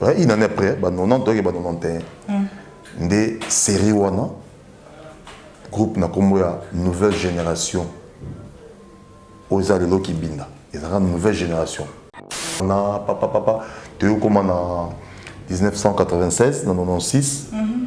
Hein, une année après, bah 90, donc bah 91. Mm. Des séries wana, groupe na kombo ya nouvelle génération. Oza lelo kibinda. Ezaka nouvelle génération. Na papa papa, toyo koma na 1996 na 96. Mm -hmm.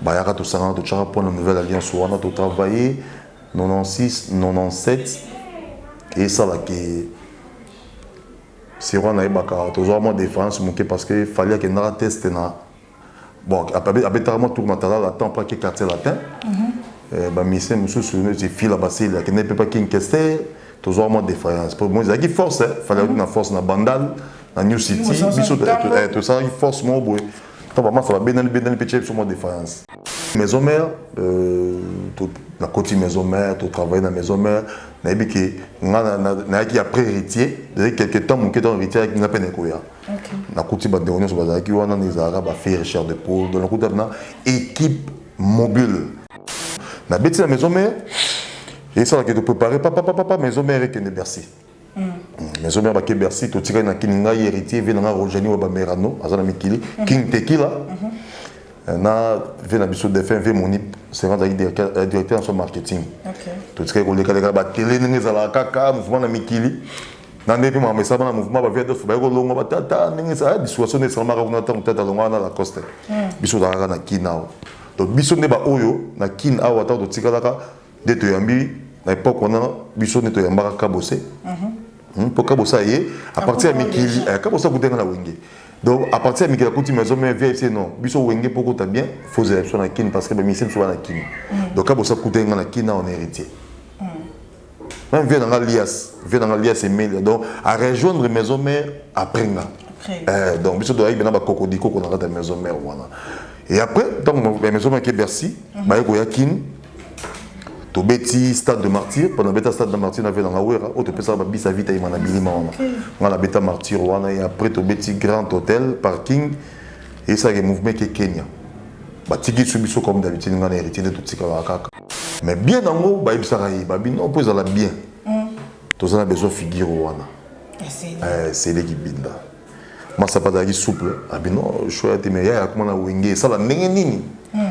Bayaka tosangana totyaka mpo na nouvelle alliance wana totravaille 96 97 esala ke siro nayebaka tozwaka mwa différence moke parce que fali akendaka teste na bon abetaka mwa tour matalala temps mpo ake quartier latin mhm. eh, bamisien mosusu neti fila basili akende mpe pa kinkester tozwaka mwa défaillance mpo moi ezalaki force eh. fali akuti mhm. na force na bandal na new city biso tosalaki force moko boye to ba masa ba benani benani pe tshepso mo defiance maison mère euh, na koti maison mère to travailler na maison mère na yebi ke nga na na ki après héritier de quelques temps mon ketan héritier avec nga pe ne koya na koti ba ndeko nyoso bazalaki wana na ezalaka ba faire cher de poule donc na koti na équipe mobile na beti na maison mère et ça que tu préparer papa papa maison mère et que ne bercer maison mère bake bercy totikali na kini ngai héritier vie na ngai rojani wa bamerano aza na mikili mhm. king tekila mhm. eh, na vie na biso défunt vie monip sera azalaki euh, directeur na so marketing totikali kolekaleka batele ndenge ezalaka kaka mouvement na mikili na nde mpe makambo esalama na mouvement bavia dof baye kolongwa batata ndenge ezala dissuasion nde esalamaka kuna ntango tata alongwa wana lacoste hmm. biso ozalaka na kin awa donc biso nde baoyo na kin awa ntango totikalaka nde toyambi na epoque wana biso nde toyambaka kabose hmm, mpo kabose aye apartir ya mikili eh, kabose akutanga na wenge donc à partir ya mikili akuti maison mère vieille se non biso wenge mpo kota bien fozela biso na kini parce que bamisie biso bana kini hmm. donc kabose akutanga nga na kini na on héritier hmm. même vie nanga lias vie nanga lias emelia donc à rejoindre maison mère après nga eh, donc biso toyaki bena bakokodikoko na kati ya maison mère wana et après ntango maison mère ke bercy baye koya kini tobeti stade de martyr mpona beta stade de martyr na vela nga wera oyo topesaka babisa vita yema na bilima wana nga na beta martyr wana e après tobeti grand hôtel parking esalaki mouvement eke kenya batiki biso biso comme d'habitude nga na héritier nde totikalaka kaka mais bien yango bayebisaka ye babino mpo ezala bien mm. toza na besoin figure wana eh, seleki binda masapa azalaki souple abino ah, shoya te mais yaya akoma na wenge esala ndenge nini mm.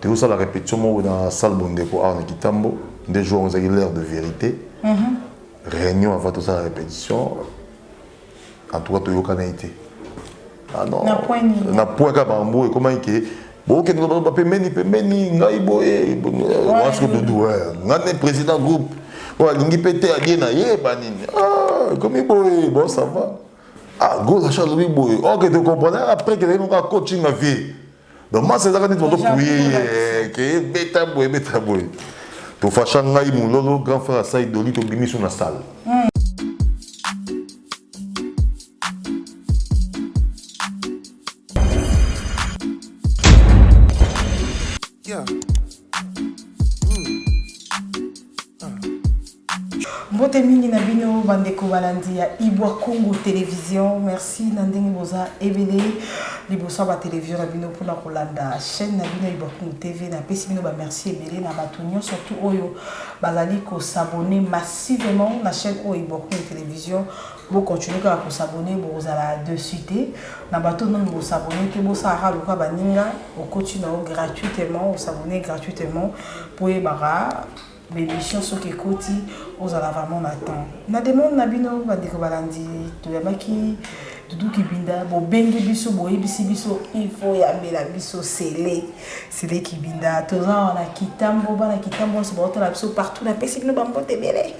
Tozosala repetition moko na salle bondeko awa na kitambo nde jour yango ezalaki l'heure de vérité réunion avant tosala repetition en tout cas toyokanaki te ah non Na point nini? na point kaka bango ekomaki ke bokende koloba pembeni pembeni ngai boye wansi kodudu ngai nde président groupe oyo alingi mpe te abie na ye banini Ah, ekomi boye bon ça va ah gola sha alobi boye ok tocomprendre après kezalaki moko ya coaching na vie donc masa ezaka neti bato puye ye ke ebeta boye ebeta boye tofasha ngai mololo grand frère asai doli tobimi so na salle hmm. mbote mingi na bino bandeko balandi ya ibwa congo television merci na ndenge boza ebele liboso ya batelevision na bino mpona kolanda chaîne na bino ibwa congo tv napesi bino bamerci ebele na bato nyonso surtout oyo bazali kosabone massivement na chaîne oyo ibwa congo television Bo continuer kaka ko s'abonner bokozala deçu te. Na bato oyo nanu bo s'abonner te bosala kaka lokola baninga okoti na yo gratuitement o s'abonner gratuitement po oyebaka ba emission soki ekoti ozala vraiment na temps. Na demande na bino ba ndeko balandi toyambaki Doudou Kibinda bobengi biso boyebisi biso il faut oyambela biso Cele Cele Kibinda toza awa na Kitambo bana Kitambo nionso baotala biso partout napesi bino ba mbote ebele.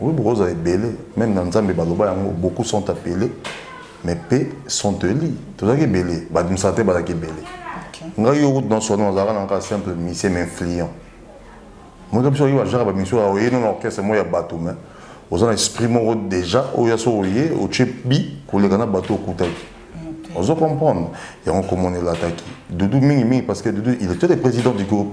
Oui bokozala ebele meme na nzambe baloba yango beaucoup sont appele mais pe sont eli tozalaki ebele ba administrateur bazalaki ebele ngai yo kutu na sono nazalaka na kaka simple musicien mais influent moyeka biso oyebi ajaka bamisio oye no na orchestre moko ya bato mais oza na esprit moko déjà oyo ya so oye otie bi koleka na bato okutaki ozo comprendre yango komona elataki dudu mingi mingi parce que dudu il était le président du groupe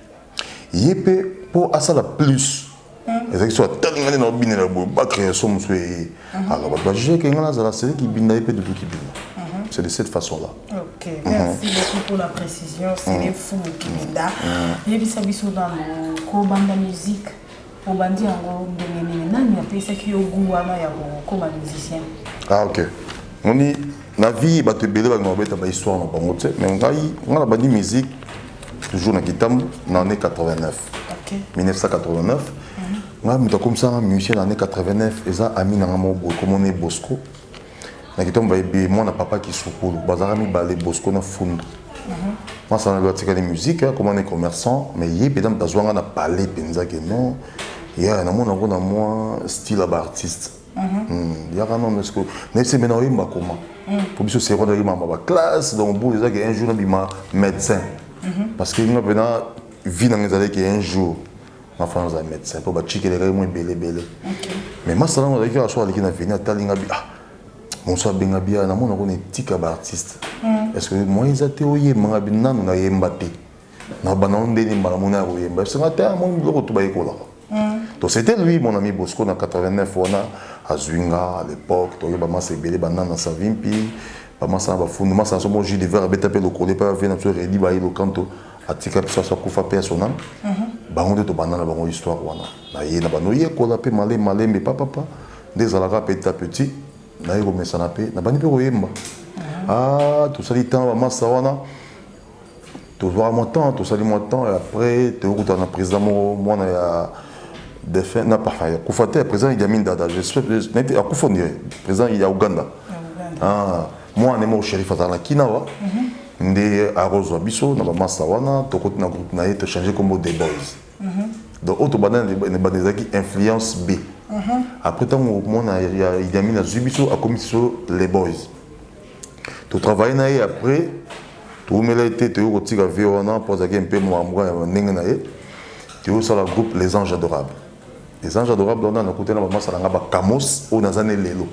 ye pe po asala plus ezalaki so atali ngai nde naobinela boye bacreye so mosusu eye alors bato bajugeke ngai nazala sele kibinda ye mpe dudu kibinda c'est de cette façon là ok merci beaucoup pour la précision sele fulu kibinda yebisa biso nano kobanda musique Obandi yango ndenge nini? Nani apesaki yo gout wana ya kokoma musicien? Ah ok. Moni na vie bato ebele balinga kobeta ba histoire na bango te mais ngai ngai nabandi musique toujours na kitambo na année 89 okay. 1989 ngai moto akomisanga musicien na année 89 eza ami na ngai moko boye komona ye bosco na kitambo bayebi mwana papa kisukulu bazalaka mibale bosco na fundu masana lobi atikali musique akoma ne commerçant mais ye mpenza moto azwanga na palais mpenza ke non ya namona yango na mwa style ya baartiste mhm. hmm, yaka nono eske nayebisi mpe na oyemba koma mpo hmm. biso seko ndaki mama baklasse donc bulu ezaki un jour nabima médecin mhm. parce que nga mpena vie nanga ezalaki un jour na fana aza médecin mpo batikelaka ye mwa ebele ebele mais masala yango azalaki kaka so aleki na veni atali nga bi ah bonso abenga biya namona kona etika baartiste hmm. parce que moyen eza te oyemba nga bi nanu nayemba te na banda ngo ndenge mbala mona ya koyemba parce que nga te amoni ah, biloko to bayekolaka hmm. donc c'était lui mon ami bosco na 89 wana azwi nga à l'époque toyeba masa ebele banana savimpi bamasana bafundu masana so mo jus de verre abeta mpe lokole mpe avie na biso redi baye lokanto atika biso aso akufa mpe asona bango nde tobanda na bango histoire wana na ye na bando yekola mpe male malembe papapa nde ezalaka petit à petit naye komesana mpe nabandi mpe koyemba ah, tosali temps bamasa wana tozwaka mwa temps tosali mwa temps et après tokokutana na président moko mwana ya défunt na parfum ya kufa te président Idi Amin Dada je souhaite akufa ndire président ya Ouganda ah mwana moko sherif azala na kina wa nde akozwa biso na bamasa wana tokoti na groupe na ye tochange nkombo the boys donc oyo tobanda ebanda ezalaki influence b après ntango mwana ya idiamine azwi biso akomisi biso les boys totravaille na ye après toumela ye te toyei kotika vie wana mpo azalaki mpe mwamwa ya ndenge na ye toyei kosala groupe les anges adorables Les anges adorables wana nakuta na bamasa na nga bakamos oyo naza ne lelo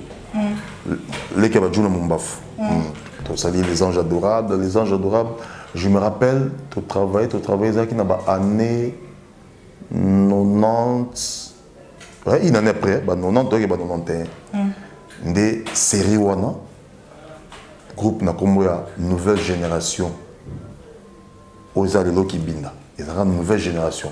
leki ya bajuna mombafu tosali les anges adorables les anges adorables je me rappelle totravaille totravaille ezalaki na baannée 90 une année après ba 90 toyaki ba 91 nde série wana groupe na nkombo ya nouvelle génération oyo eza lelo kibinda ezalaka nouvelle génération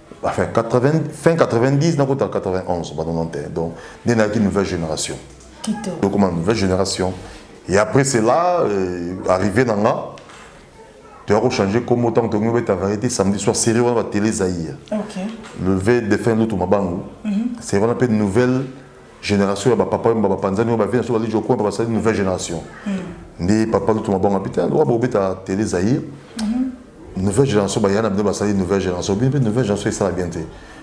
enfin 80, fin 90 na kota 91 ba 91 donc nde nayaki nouvelle génération donc ma nouvelle génération et après cela euh, arrivé na nga toyako change nkombo ntango tokomi obeta variété samedi soir série wana batele zaïr okay. levé défunt lutu mabangu mm -hmm. série wana mpe nouvelle Generation ya ba papa oyo ba panzani oyo ba vie na so ba lijo coin ba sali nouvelle generation. Nde papa lutu mabanga pita lwa bo beta télé Zaïre. Nouvelle génération ba yana bino ba sali nouvelle génération. Bino nouvelle génération esala bien te.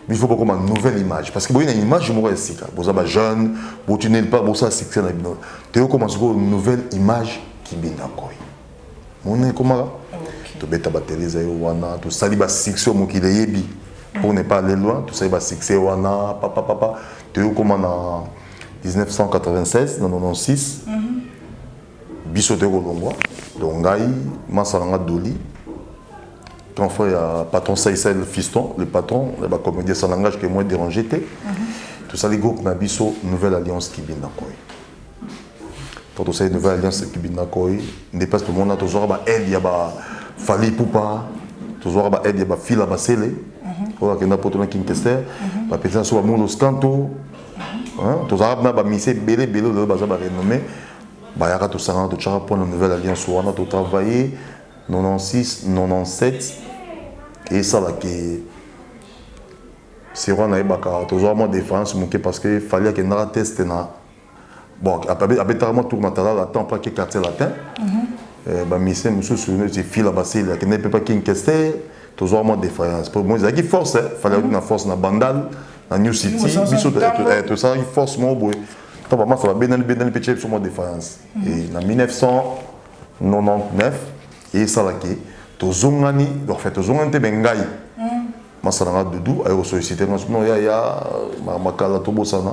Il faut bokoma nouvelle image parce que boyina image moko ya sika. Boza ba jeune, bo tunel pas bosa succès na bino. Te okoma siko nouvelle image kibinda koi. mona ekomaka tobeta batele eza yo wana tosali basuccès oyo mokili eyebi pour ne pas aller loin tosali basuccès wana papa papa toyei okoma na 1996 na 96 biso toyei kolongwa donc ngai masa na nga doli grand frère ya patron saisel fiston le patron ya bacomédien ça langage que moi dérange te tosali groupe na biso nouvelle alliance kibinda koi Quand on sait une nouvelle alliance qui binda koi, nde place tout le monde a toujours ba aide ya ba Fally Poupa, toujours ba aide ya ba Fila Basele, oyo akenda poto na King Kester, ba pesa so ba Mundo Scanto, hein, tozalaka na ba mise ebele ebele oyo baza ba renommé, bayaka tosangana totyaka mpo na nouvelle alliance wana totravaille 96 97 esala ke sero nayebaka tozwa mwa défense moke parce que fali akendaka teste na bon abetaka mwa tour matalala temps mpo ake quartier latin eh, bamisien mosusu neti fila basili akende mpe mpa king kester tozwaka mwa défaillance mpo moi ezalaki force eh, fale akuti na force na bandal na new city biso tosalaki force moko boye to bamasa babendani bendani mpe tie biso mwa défaillance mhm. na 1999 esalaki tozongani enfin tozongani mpe me ngai mhm. masala nga dudu aye kosollicite nga no yaya makala tobosana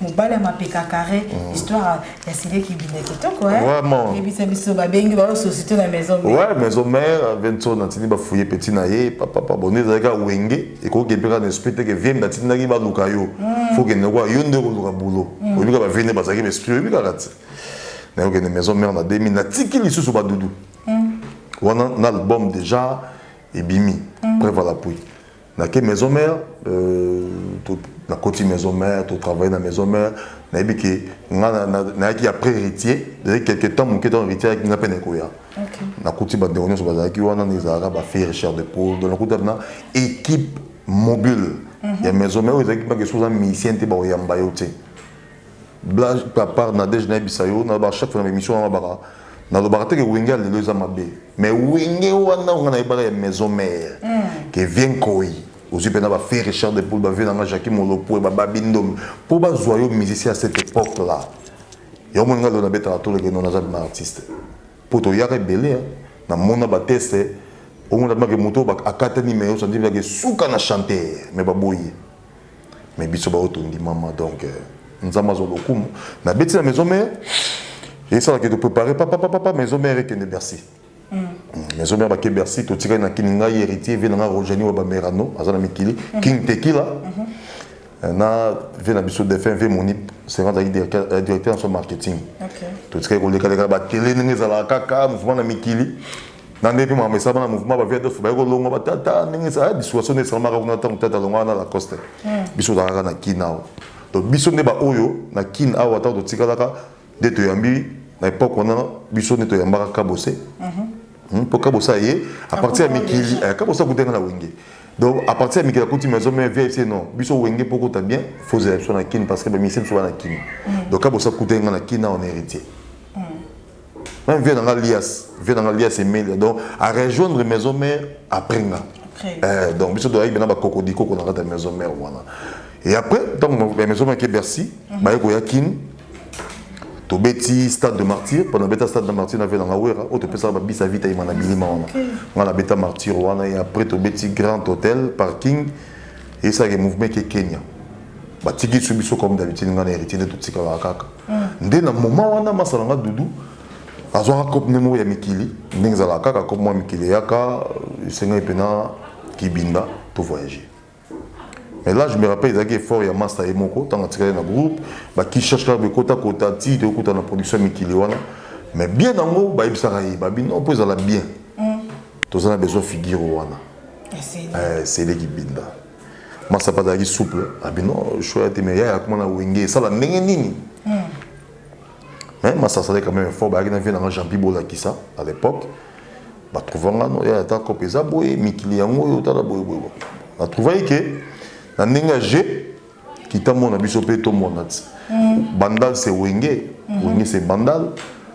mobali ya mapeka carré mm. histoire ya sile kibinda kitoko eh? vraiment yebisa biso babengi bayo société na maison mère ouais maison mère vincent nantini bafouye petit na ye papa pabone ezalaki awenge ekoki mpe kaka na esprit te ke vienne natindaki baluka yo mm. faut kende kwa yo nde okoluka boulot mm. oyebi kaka bavie nde bazalaki baesprit oyebi kaka te nayokende maison mère na 2000 natiki lisusu badudu wana na album déjà ebimi preuve à l'appui Nake maison mère, euh, nakoti maison mère, to travailler na maison mère, nayebi ke nga nayaki ya après héritier, ezalaki quelque temps moke ntango héritier ayaki nga mpe nakoya. Nakuti bandeko nyonso bazalaki wana, nde ezalaka ba fille Richard de Paul, donc nakuti na équipe mobile mhm. ya maison mère oyo ezalaki bake soza musicien te bakoyamba yo te. Blague à part Nadège nayebisa yo na ba chaque fois na émission na baka na lobaka te que Wenge lelo eza mabe mais Wenge wana nga na yebaka ya maison mère mm. que vient koi ozwi mpe na ba fait Richard de Poul ba vie na nga Jacques Molopo ba babi ndomi po ba zwa yo musicien à cette époque là yo mon nga lelo na beta tour que non naza ma artiste po to yaka belé hein. na mona ba test au moins la moto ba akata ni mais yo sandi que suka na chanter mais ba boye mais biso baoyo tondimama donc euh, nzambe azwa lokumu nabeti na maison mare esalaka toprépare papapapapa maison mare ekende bercy mm. Mm, maison mare bake bercy totikali na kini ngai héritier vie na ngai rogeni wa bamerano aza na mikili mm-hmm. king tekila mm-hmm. euh, na vie na biso défunt vie monip sera azalaki euh, directeur na so marketing totikali kolekaleka batele ndenge ezalaka kaka mouvement na mikili na ndenge mpe makambo esalama na mouvement ba vie dof baye kolongwa batata ndenge esala bisuwaso nde esalamaka kuna ntango tata alongwa na lacoste hmm. biso ozalaka na kin awa donc biso nde baoyo na kin awa ntango totikalaka nde toyambi na epoke wana biso nde toyambaka kabose mpo mhm. hmm, kabose aye a partir ya mikili eh, kabose akutenga na wenge donc à partir ya mikili akuti maison mais vie se non biso wenge mpo kota bien fozela biso na kin parce que bamisi biso bana kin hmm. donc kabose akutenga na kin awa na héritier Même vieux nanga lias, vieux nanga lias Emelia. Donc à rejoindre maison mère après nga. Euh, donc biso doyaki bena ba kokodi koko na kata maison mère wana. Et après tant que maison mère ke Bercy, mhm. ba yeko ya Kin. To beti stade de martyr, pendant beta stade de martyr na vela ngawera, o to pesa ba bisa vita imana bilima wana. Ngala beta martyr wana et après to beti grand hôtel, parking et ça le mouvement ke Kenya. Ba tiki biso comme d'habitude ngana héritier de tout tikala kaka. nde na moment wana masala nga dudu azwaka cope nde moko ya mikili ndenge ezalaka kaka cope mwa mikili eyaka esengaki mpena kibinda to voyager mais là je me rappelle ezalaki effort ya masta ye moko ntango atikali na groupe bakicherche kaka bekotakota ti toyokuta na production ya mikili wana mais bien yango bayebisaka ye babi non mpo ezala bien toza na besoin figure wana seleki binda masapa azalaki souple abino ah, shoya te mais yaya akoma na wenge esala ndenge nini hmm. mais masasa azalaki quand même effort bayaki na vie nanga jampi bolakisa à l'époque batrouva nga no yaya ata kope eza boye mikili yango oyo otala boye boye natrouvaki ke na ndenge ya jeu kitambo na biso mpe tomonati hmm. bandal se wenge hmm. wenge se bandal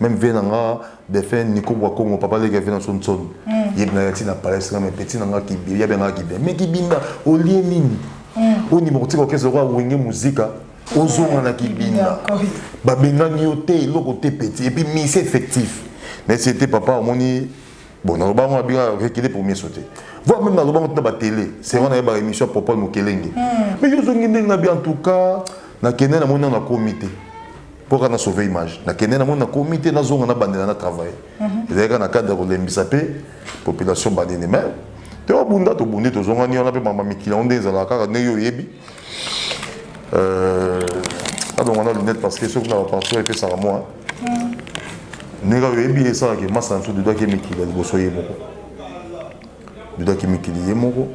Même vie na nga défunt Nico Bwa Congo papa leki vie na son son. Mm. Yeb na yati na palais na mais petit na nga kibi ya benga kibi. Mais kibi na olie nini? Mm. Oni mokotika okezo kwa wenge muzika. ozonga na kibinda babengani yo te eloko te petit epuis misi effectif na esi ete papa omoni bon naloba yango abika rekile pour miso te voir même naloba yango tina batele se wana ye baémission ya popol mokelenge hmm. mais yo ozongi ndenge na bi en tout cas nakende namoni nano nakomi te mpo kaka na sauve image nakende na moni nakomi te nazonga nabandela na travail ezali kaka na cadre ya kolembisa mpe population banini mais te obunda tobundi tozongani wana mpe mama mikili yango nde ezalaka kaka ndenge oyebi alonga na lunette parce que soki na baparti oyo epesaka mwa ndenge oyebi esalaka emasa na biso dudaki mikili ya liboso ye moko dudaki mikili ye moko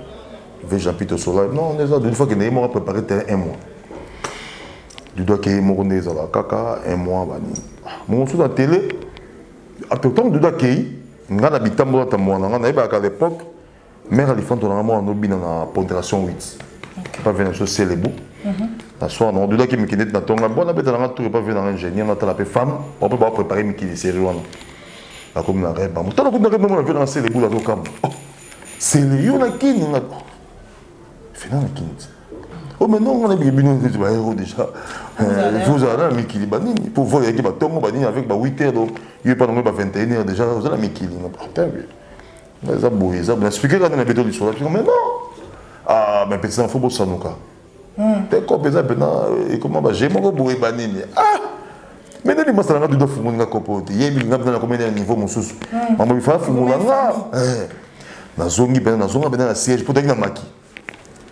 ve jean pito sola non eza dudifakende ye moko aprépare terrain un mois du doigt ke ye moko nde ezalaka kaka un mois banini bongo mosusu na tele ntango du doigt akei ngai na bitambola ata mwana ngai nayebaka à l'époque mère alifanto na ngai mwana nobina na ponderation 8 epa vena biso selebo na soir nango dudaki mikili neti na ntongo ngai bona beta na ngai tour epa vena ngai ingénieur natala mpe femme bape baprépare mikili série wana nakomi na reba moto nakomi na reba mona vena na selebo azokamba sele yo na kini nga fena na kini ti Oh, mais non, on a bien bino nzete baero déjà tozala na mikili banini mpo voi yaki batongo banini avec ba 8 heures donc yo epa nango ba 21 heures déjà oza na mikili eza boye eza boye explike kaka na beto lisolo apiko mais non ah mais petit enfant bosanuka te ko mpenza mpena ekoma baje moko boye banini ah mais nani masala nga duda fungoli nga kopo te yebi nga mpena nakomena ya niveau mosusu mambo bifaa fungola nga nazongi mpena nazonga mpena na siège mpo taki na maki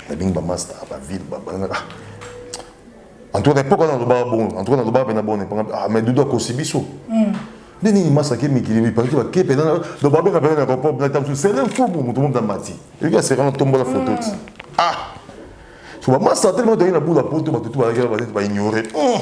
nalingi bamasta bavile babalangaka ah. antuka na epoke wana nalobaka bongo antuka nalobaka mpena bongo epanga ah, mais dudu akosi biso hmm. nde nini masta ke mikili mipakiti bake mpena do babenga mpena na kopop na tamsu sele mfumu moto moto na mati eyoki aseka na tombola foto ti hmm. ah so bamasta telema toyei na bula poto bato tu balakela bazeti baignore hmm.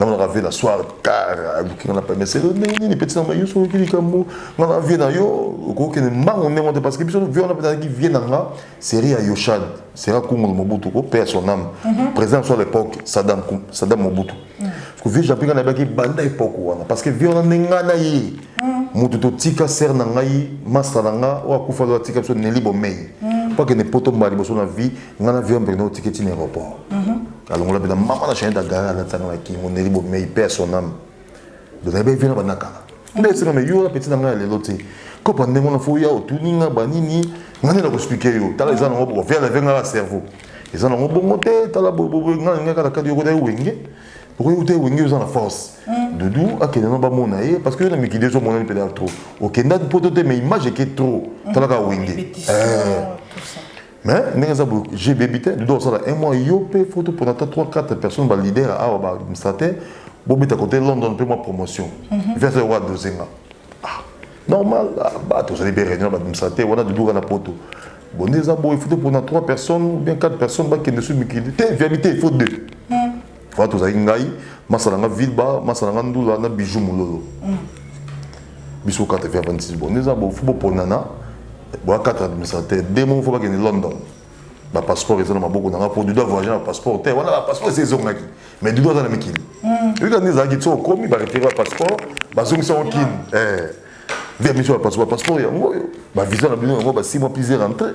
na monaka vie na soir tard aluki nga na pame selo ndenge nini peti na mai yo soki likambo nga na vie na yo okokende mbango ndenge te parce que biso vie wana mpenza vie na nga série ya yoshan sera kungulu mobutu ko père son âme mhm. président soit l'époque sadam sadam mobutu mhm. parce que vie japi nga nayebaki banda époque wana parce que vie wana nde nga na ye mhm. moto totika sere na ngai masta na nga oyo akufa lo atika biso neli bomei mpo akende poto mbala liboso na vie nga na vie wana mpekende otiki ntina aéroport alongola mpena mama na chanete agara alatanga na kingo neli bomei mpe ya son ame donayebi evina banakala nde esika me yola peti na ngai ya lelo te kopa ndenge wana fo ya otuni nga banini nga nde nakoexplike yo tala eza nango boko viala ve ngaka cerveau eza nango bongo te tala bobobo nga na ngai kaka kadi yokota ye wenge okoki kuta ewenge oza na force mm. dudu akende no bamona ye parce que yo na mikili ezo monani mpena trop okendaki poto te mais image eke trop mm. talaka wenge eh. mais ndenge eza boye j'ai débité dodo asala un mois yo mpe fo topona ata 3 4 personnes baleader awa baadministrateur bobeta kote london mpe mwa promotion mhm. verse oyo adose nga ah, normal ah, bato ozali mpe réunion baadministrateur wana dodo kaka na poto bon nde eza boye fo topona 3 personnes ou bien 4 personnes bakende so mikili te viabité il faut deux mhm. Wana tozalaki ngai, masa na ngai Vilba, masa na ngai Ndula na Bijou Mulolo. Mm. Biso kata via 26 bon. Neza bo fubo ponana. Bo kata administrateur. Demo faut bakende London. Ba passeport eza na maboko na ngai pour du doit voyager na passeport. Te wana ba passeport c'est zongaki. Mais du doit za na mikili. Mm. Yika neza ki tso komi ba retirer ba passeport, ba zongisa au kin. Eh. Via mission ba passeport, passeport ya ngoyo. Ba visa na bino ngo ba 6 mois plus rentré.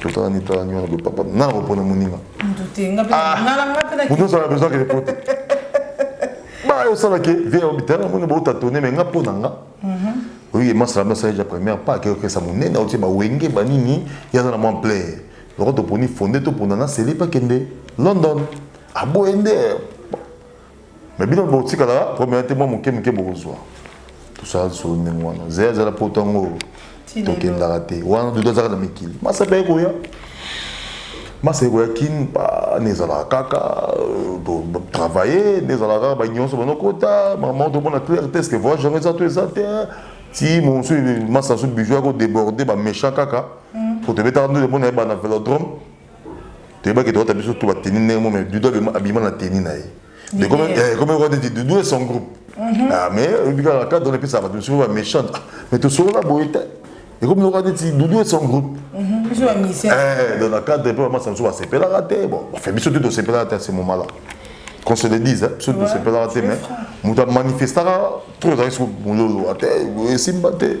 totala nde tala nyonso boye papa nga na kopona moninga moto ozala besoin kende poto bayo osala ke vie ya bitala na moni bootatone me nga mpo na nga oye masala masala ja première pas akekesa monene otie bawenge banini ye aza na mwa plaire loko toponi fonde topona na sele pakende london aboye nde Mais bino botikala problème te mwa moke moke bokozwa tosala lisolo ndenge wana zeya azala po ntango tokendaka te wana dudu azalaka na mikili masaba ye koya masa ekoya kin ne ezalaka kaka euh, travaille ne ezalaka kaka banyonso banokota mama tomona claire te ceque voyage yango eza to eza te ti mosu masa so bijou yako déborde baméchant kaka po tobetaka nde mona ye bana vélodrome toyebaki toyata biso to bateni ndenge mo mais dudu abima na teni na ye ekomekwa neti dudu et son groupe mhm. ah, mais oyebi kaka cadre na epesaka bato mosusu baméchante ah, mais tosolola boye te ekomekwa neti dudu et son groupe mhm. eh, dans na cadre mpe bamasa mosusu basepelaka te bon bafe biso te tosepelaka te ya ce moment là qu'on se le dise biso te tosepelaka te mais moto amanifestaka trop ezalaki soko mololo ate esimba te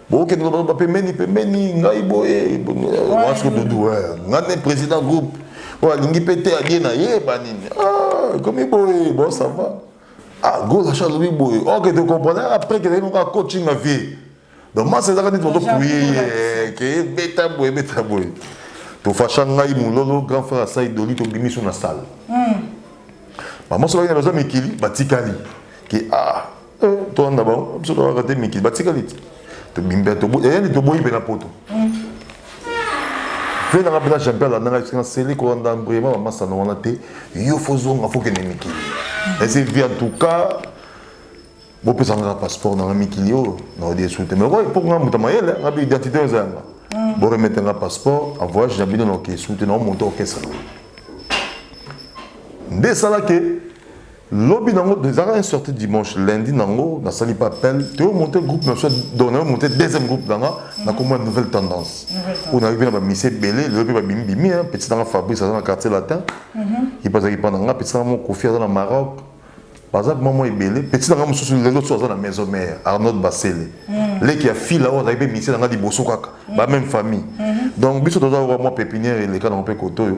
bokende koloba pembeni pembeni ngai boye wansi kodudu ngai ne président groupe oyo alingi mpe te alie na ye banini ah, ekomi boye bon ça va ah golacha alobi boye ok oh, tocomprendre après kelei moko acoaching na vie donc masa ezaka neti bazopuye ye keye beta boye beta boye tofasha ngai mololo grand frère asai doli tobimi so na salle hmm. bamasa bakenda baza mikili batikali ke ah Eh, toanda bango biso toyaka te mikili batikali te tobimba eyani eh, toboyi mpe na poto mpe nanga mpena champion alandanga esika naseli kolanda vraiment bamasano wana te yo fo zonga fo kende mikili ese vi en tout cas bopesa ngaka passeport nanga mikili oyo naodi esu te mais okoki mpo nga moto mayele nga mpe identité oyo eza yanga mm. boremete nga passeport en voyage na bino naoke esu te naomonte orchestre nde esalaki Lobi nango ezalaka un sorti dimanche lundi nango nasali mpe appel toyo monte groupe na biso donc nayo monte deuxième groupe na nga na kombo ya nouvelle tendance oyo nayoki na bamisi ebele lelo mpe babimi bimi petit nanga fabrice aza na quartier latin ye mpe azalaki mpa na nga petit nanga mo kofi aza na maroc baza mpe mwa ebele petit nanga mosusu lelo so aza na maison mare arnaud basele leki ya fila oyo azalaki mpe misi na nga liboso kaka ba même famille donc biso toza oyo mwa pépinière eleka nango mpe kote oyo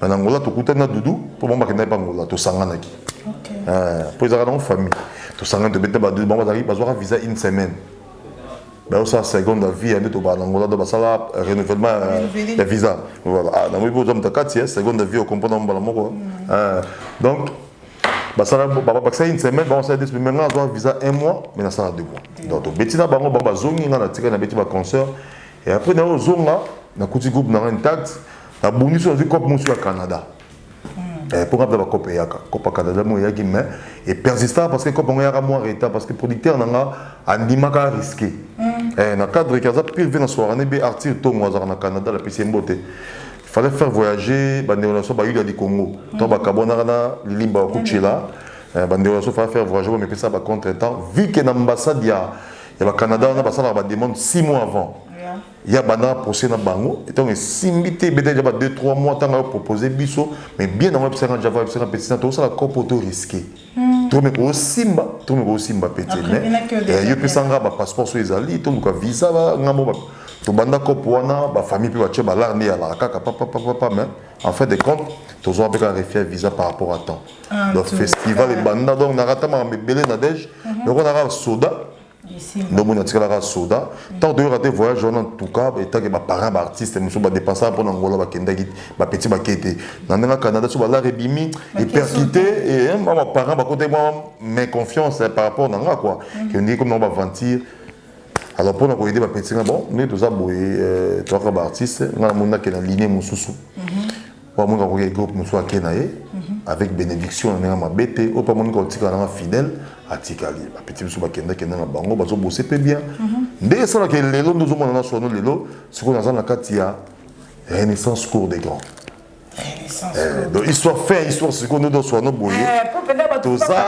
mais na ngola tokutani na dudu mpo bango bakendaki mpe angola tosanganaki mpo ezalaka nango famille tosangani tobeta badudu bango bazalaki bazwaka visa une semaine bayosala seconde ya vie ya nde tobaa na ngola do basala renouvellement ya visa voilà ah, nango mpe oza moto kati ya seconde ya vie okomprendre yango mbala moko mm. donc basala babakisa une semaine bango sala deux semaines mais ngai nazwa visa un mois mais nasala deux mois mm. donc tobeti na bango bango bazongi ngai natikali nabeti baconcert et après nayo ozonga nakuti groupe na ngai intact nabungisi nazwi cope mosusu ya canada hmm. eh, mpo nga mpe bacope eyaka cope ya canada mo eyaki mais epersista parce que cope yango eyaka mwa retard parce que producteur na nga andimaka risque hmm. eh, na cadre ke aza pire ve na soirane be artir tongo azalaka na canada lapesi ye mbote fallait faire voyager bandeko na biso bayuda ya likongo hmm. to bakabwanaka na lilimba ya kuchela eh, bandeko na biso fallait faire voyager bamipesa bacontre temps vu ke na ambassade ya ya bacanada wana basalaka bademande 6 mois avant ya banda na procès na bango etango esimbi te ebeta deja ba 2 3 mois ntango ayo propose biso mais bien yango ebisaka na java ebisaka petit na tokosala kopo to risque hmm. tome kosimba tome kosimba pe te mais yo pesa nga bapasseport so ezali toluka visa ngambo tobanda kopo wana bafamille mpe batye balare nde yalaka kaka papapapapa mais en fin de compte tozwa mpe kaka refia visa par rapport à temps ah, donc festival ebanda donc nakata makambo ebele na dege mhm. lokola nakaka soda ndomoni atikala kaka soda ntango toyoka te voyage wana ntuka etake baparent baartiste mosusu badepensaka mpo na ngola bakendaki bapeti bake te na ndenge canada so balare ebimi eperkite eh, mwa baparent bakotaki mwa mais confiance eh, par rapport na nga kua mm. ke ondiki komi nango baventure alors mpo na koyede bapeti nga bon nde toza boye eh, toyaka baartiste nga namoni nakenda linie mosusu mm-hmm. oyo amoni akoki ya groupe mosusu ake na ye avec bénédiction na ndenge mabe te oyo mpe amoni kotikala nanga fidèle atikali bapeti biso bakendakenda na bango bazobose mpe bien nde esalaka lelo nde ozomona na sono lelo sikoyo naza na kati ya renaissance cour des grands Eh, donc histoire fin histoire sikoyo nde doswa no boye toza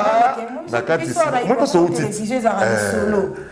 na kati mpe soutite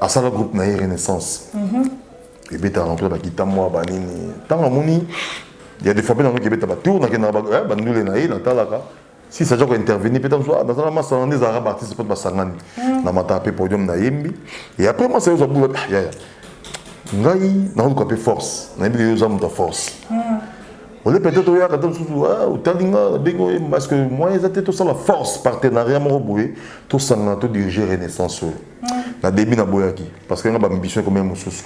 asala groupe na ye renaissance mhm. ebetaka na mpe bakita mwa banini ntango amoni ya defape na noki ebeta batour nakendaka eh, bandule na ye natalaka si saja kointervenir mpe ntango ah, nazala masana nde ezalaka baartiste mpo basangani mhm. na mataka mpe podium nayembi e après mwasa yo zabula ah, yaya ngai naoluka mpe force nayebi yo oza moto ya force mhm. ole peut-être oyaka ta mosusu ah, otali nga nabengi oye parce que moyen eza te tosala force partenariat moko boye tosangana todirige renaissance oyo na début na boyaki parce que nga ba ambition ekomi mosusu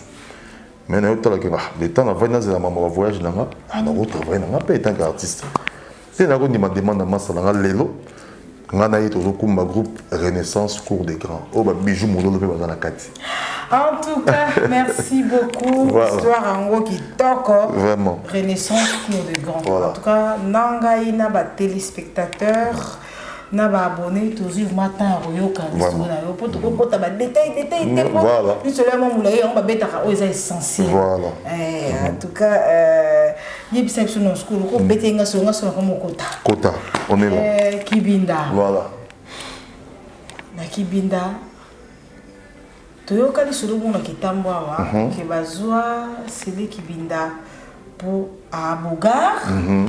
mais na yotala ke ah le temps na vandi nazela mama ba voyage na nga ah na ko travailler na nga pe tant qu'artiste te na ko ndima demande na masa na nga lelo nga na ye tozokumba groupe renaissance cour des grands oyo babiju mololo mpe baza na kati en tout cas merci beaucoup voilà. histoire yango kitoko vraiment renaissance cour des grands voilà. en tout cas na ngai na batelespectateur na ba abonné tozwi vrma temps ya koyoka lisolo na yo mpo tokokota ba détail détail te mpo lisolo ya mwa molai yango babetaka oyo eza essentiel eh, en tout cas euh, yebisa biso na sukulu kobete nga solo nga solo kama okota kota onela eh, kibinda voilà na kibinda toyoka lisolo bongo na kitambo awa mhm. ke bazwa sele kibinda mpo abogar mhm.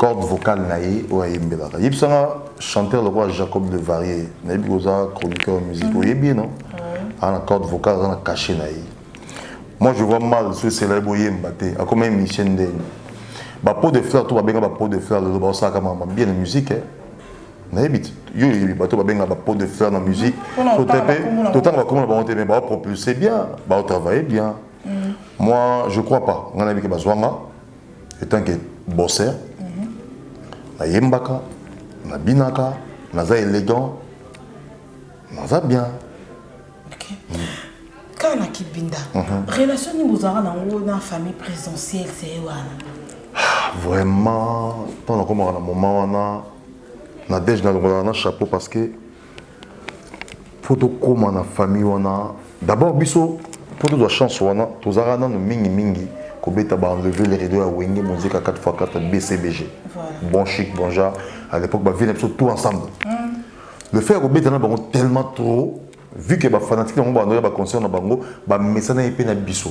corde vocale na ye oyo ayembelaka yebisa nga chanteur lokola jacob le varier nayebi koza chroniqueur musique oyebi ye non aza na corde vocale aza na cachet na ye moi je vois mal soki esela ye boyemba te akoma émission ndenge bapo de fleur to babenga bapo de fleur lelo baosalaka mama bien na musique nayebi te yo oyebi bato babenga bapo de fleur na musique totanga bakoma na bango te mais baopropulse bien baotravaille bien moi je crois pas ngai nayebi ke bazwanga etant que bosser nayembaka nabinaka naza élégant naza bien okay. mm. kaka na kibinda mhm. relation nini bozalaka nango na famille présidentielle seye wana ah, vraiment ntango nakomaka na moment wana nadege nalongolaka na chapeau parce que faut tokoma na famille wana d'abord biso mpo tozwa chance wana tozalaka nano mingimingi kobeta baenlever le rideau ya wenge mozika 4x4 bcbg bon chic bon genre à l'époque bavie na biso tout ensemble mm. le fait ya kobeta na bango tellement trop vu que bafanatike na bango baandoya baconcert na bango bamesana ye mpe na biso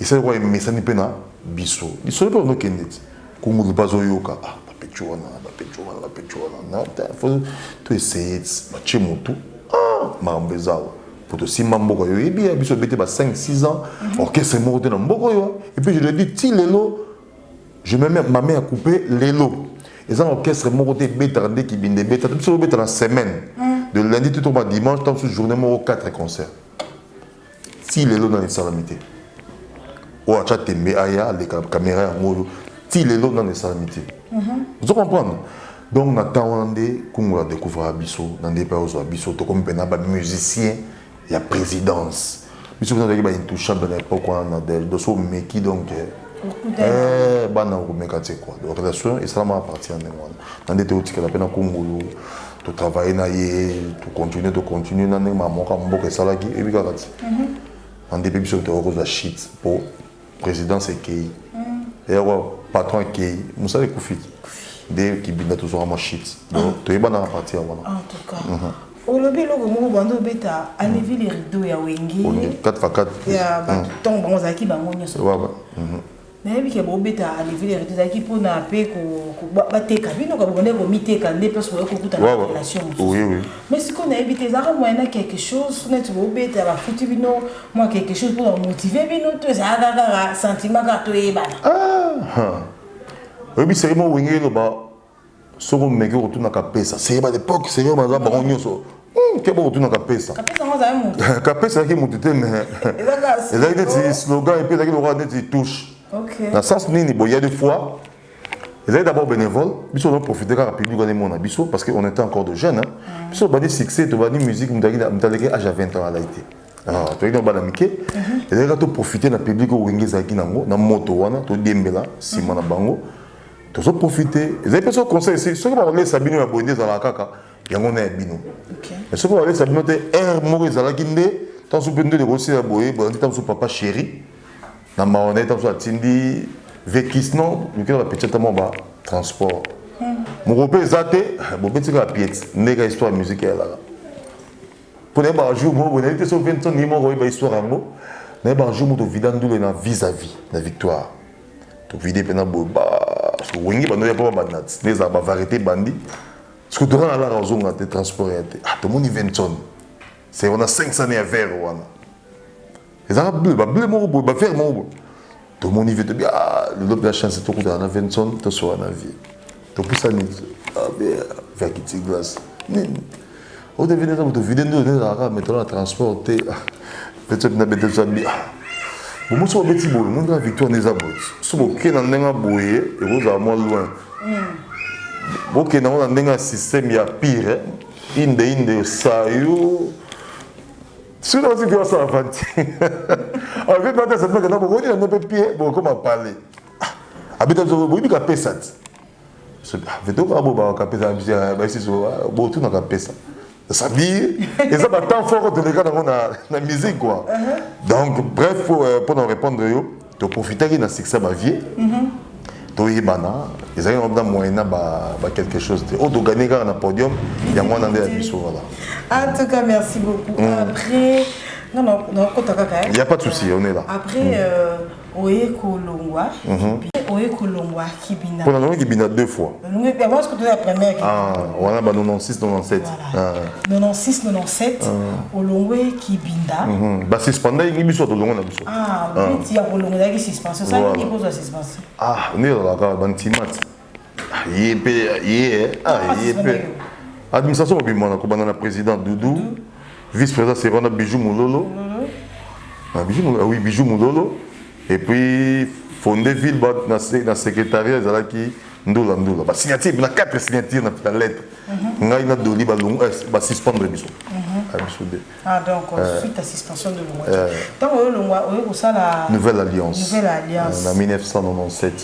Esali lokola emesani mpe na biso. Lisolo mpe bando kende ti. Kungulu mpe azoyoka. Ah, bapecho wana, bapecho wana, bapecho wana. Faut to essayer ti. Batie motu. Ah, makambo eza awa. Mpo tosimba mboka yo yebi ya biso bete ba 5 6 ans mhm. orchestre moko te na mboka yo. Et puis je le dis ti lelo je me mets ma main à couper lelo. Eza orchestre moko te betaka nde kibinde beta. Biso beta na semaine. Mhm. De lundi tout au dimanche, tant que journée moko 4 concerts. ti lelo nanu esalami te oyo atya tembe aya aleka kamera yango oyo ti lelo nanu esalami te mhm. ozo comprendre donc na temps wana nde kungu ya découvraka biso na nde mpe ozwa biso tokomi mpena bamusicien ya présidence biso mpena tozalaki baintouchable na époque wana na del doso omeki donc eh, eh, bana okomeka te kua donc relation esalamaka parti ya ndenge wana na nde te otikala mpe na kungulu to travailler na ye to continuer to continuer na ndenge mamoka mboka esalaki ebi kaka ti na nde mpe biso tokoki kozwa shit mpo présidence ekei eyako patron ekei mosala ekufi nde kibinda tozwaka mwa shit donc toyebana na parti ya wana en tout cas mhm. olobi eloko moko banda obeta alevi le rideau ya wenge 4 fa 4 ya batongo bango ozalaki bango nyonso Nayebi ke bobeta levure ya reto ezalaki mpo na mpe bateka bino ka bobandaki komiteka nde place boye kokuta na relation mosusu mais sikoyo nayebi te ezalaka moyen na quelque chose neti bobeta bafuti bino mwa quelque chose mpo bamotive bino to ezalaka kaka sentiment kaka toyebana ah, ah. oyebisaki mwa wenge eloba soki omeki okotuna kapesa seye ba lepoke seye baza bango nyonso hmm, keba okotuna kapesa kapesa ezalaki motu te me ezalaki neti slogan epe ezalaki lokola neti touche na sens nini boye ya de fois ezali d'abord bénévole biso ozo profite kaka public wana emona biso parce que on était encore de jeune mm. biso tobandi succès tobandi musique moto aleki age ya 20 ans alai te ah, toyaki na bana mike mm-hmm. ezalaki kaka toprofite na public oyo wenge ezalaki nango na moto wana todiembela nsima na bango mm. tozo profite ezali mpe so conseil si soki bakolesa bino ya boye nde ezalaka kaka yango na ya bino mais soki bakolesa bino te aire moko ezalaki nde ntango so mpe nde ekosila boye boye ntango so papa chéri na mawa na ye ntango so atindi vekis non lukela bapeti ata mwa ba transport hmm. moko mpe eza te bobetika pieti ndeka histoire ya musike eyalaka mpo nayebaka jour moko boye nayebi te so vincent ye moko oyeba histoire yango nayebaka jour moko tovida ndule na vis à vis na victoire tovide mpe na boye ba wenge bando ya mpo babanda nde ezala bavarité bandi soki toka na lara ozonga te transport ya te ah tomoni vincent c'est wana 500 ya vert wana ezalaka bleu ba bleu moko boye ba vert moko boye tomoni vie tobi ah lelo mpe chance tokutana na vinson tosola na vie topusani verkiti glace nini otevini eza moto vide nde ezalaka metolo na transport te pete na bete zambi bomo soki obeti boye moni kaka victoire nde eza boye soki boke na ndenge boye ekozala mwa loin bokenda yango na ndenge ya système ya pire inde inde osayo sino osi mpe osala fanti avi mpe ata sepeke na bokoni na mpe pie bokoma pale abeta biso boyibi kapesa ti vetoka bobaka kapesa na biso ya baisiso botuna kapesa sabi eza batemps fort toleka nango na musique kua donc bref mpo na répondre yo toprofitaki na succès ya bavie toyebana ezalaki yango na moyen na baquelque chose te oyo toganie kaka na podium yango wana nde ya biso wana en tout cas merci beaucoup mm. après non non non kota kaka hein. il y a pas de souci on est là après mm. euh, oye kolongwa mhm. oye kolongwa Kibina. Pona nango Kibina deux fois. Longue pe avance kutu la première Kibina. Ah, wana ba 96 97. Voilà. Ah. 96 97 ah. olongwe Kibinda. Mm -hmm. Ba suspenda yingi biso to longo na biso. Ah, ah. petit ya kolongo na ki suspension. Ça yingi ko za suspension. Ah, ndio la ka ba ntimat. Ah, ye pe ye ah, ah ye pe. Administration mobimba na kobanda na président Doudou, vice-président Serona Bijou Mulolo. Ah, Bijou Mulolo, ah oui, Bijou Mulolo. Et puis, fondé ville, ba, na, na secrétariat, ezalaki ndula ndula. Ba signature, na quatre signatures na, na lettre. Mm -hmm. Ngai na doli ba longo, euh, ba suspendre biso. Mm -hmm. Ah, biso de. Ah donc euh, euh, suite à suspension de longo. Euh, Tant que longo, oyo kosala Nouvelle Alliance. Nouvelle Alliance. Euh, na 1997.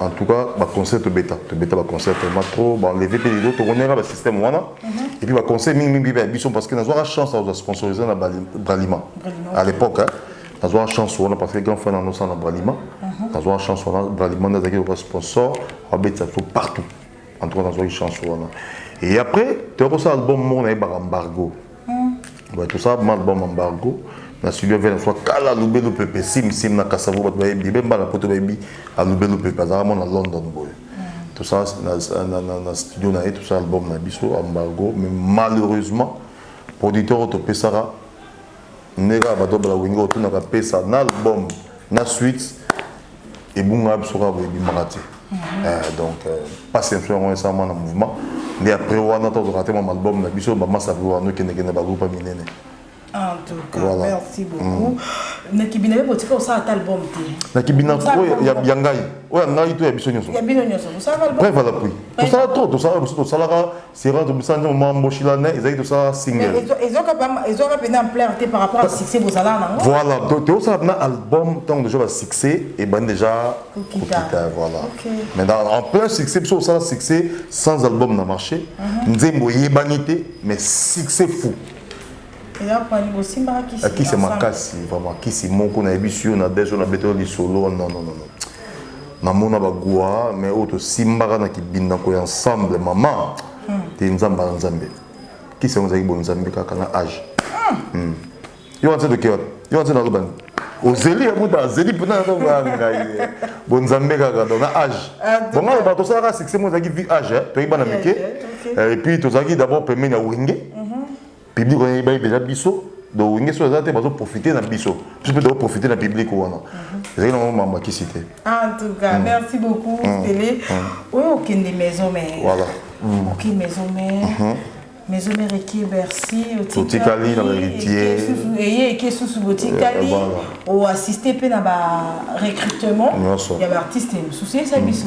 en tout cas ba concert to beta to beta ba concert tellement trop ba enlever pe les autres on est là ba système wana et puis ba concert mingi mingi ba biso parce que na zwa chance à sponsoriser na Bralima à l'époque hein na zwa chance wana parce que grand frère na nos na Bralima na zwa chance wana Bralima na zaki ba sponsor ba beta tout partout en tout cas na zwa chance wana et après tu as ça album mon na ba embargo bato sala malbum embargo na studio ya vena soit kala alubelu pepe simsim na kasavo bato bayebi ebe mbala poto bayebi alubelu pepe azalaka mwana london boye tosala na studio na ye tosala album na biso embargo mais malheureusement producteur oyo topesaka ndenge kaka bato bala wingi otunaka pesa na album na suite ebunga ya biso kaka boye ebimaka te mhm. eh, donc mpasi euh, na biso yango esalama na mouvement nde après wana tozwaka te mwa album na biso bamasapi wana okendekende bagroupe ya minene En tout cas, voilà. merci mm. beaucoup. Mm. Nakibina yo botika osala ta album te. Nakibina ko ya ya ngai. Oya ngai to ya biso nyoso. Ya bino nyoso. Osala album. Preuve à l'appui. Tosala trop, tosala biso tosalaka Servante Busanjo mwa mboshila ne ezali tosala single. Ezoka pa ezoka pena ampleur te par rapport à succès bozala nango. Voilà, donc to sala na album tant déjà ba succès et ben déjà kokita voilà. Okay. Mais dans, en plein succès biso osala succès sans album na marché. Mhm. Nzembo yebani te mais succès fou. akisi makasi vraiment kisi moko nayebisi yo na deso na beto lisolo nonono namona bagua mais oyo tosimbaka na kibindako ya ensemble mama hmm. te nzambe na nzambe kisi yango ezalaki bonzambe kaka na age hmm. hmm. yo wana se toke wapi yo wana se naloba nini ozeli yamuta azeli mpena natonga ngai bonzambe kaka don na age ah, bonga loba tosalaka succès mo ezalaki vi age eh, toyebana mike eh, epuis tozalaki d'abord pembeni ya wenge mhm. Public wana yebi beza biso donc wenge so aza te bazo profiter na biso biso mpe tozo profiter na public wana mhm. ezali nango mama makisi te en tout cas mm. merci beaucoup mm. stele mm. oyo okende maison mère voilà oke maison mère mhm. maison mère eke bercy otikali na baheritier eye eke susu botikali eh, eh, oassiste mpe na barecrutement ya baartiste mosusu yebisa mhm. biso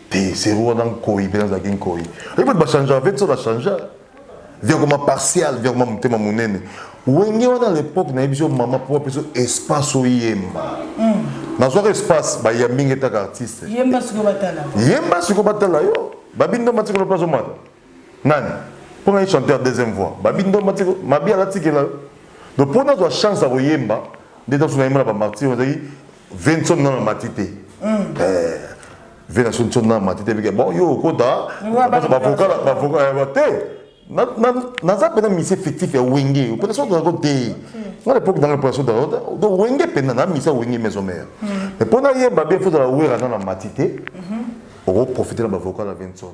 te zero wana nkoi mpe nazalaki nkoi oyebi bato bachangea ve so bachangea viakoma partial viakoma motema monene wenge wana à l'époque nayebi so mama mpo apesa espace oyemba hmm. nazwaka espace bayambi nge taka artiste yemba siko batala yo babindo matikolo mpe azomata nani mpo ngai chanteur deuxième voix babindo matikolo mabi alatikela yo donc mpo nazwa chance ya koyemba nde ntanso nayemba na bamartir ezalaki Vincent na mati te. Eh, Vincent son na mati te bike. Bon yo okota ba vocal ba vocal ba te. Na na na za pena mise fictif ya wenge. Pena son na ko te. Moi l'époque dans la pression de l'autre, donc wenge pena na mise wenge maison mère. Mais pona ye ba bien faut la wera na mati te. Oko profiter na ba vocal à Vincent.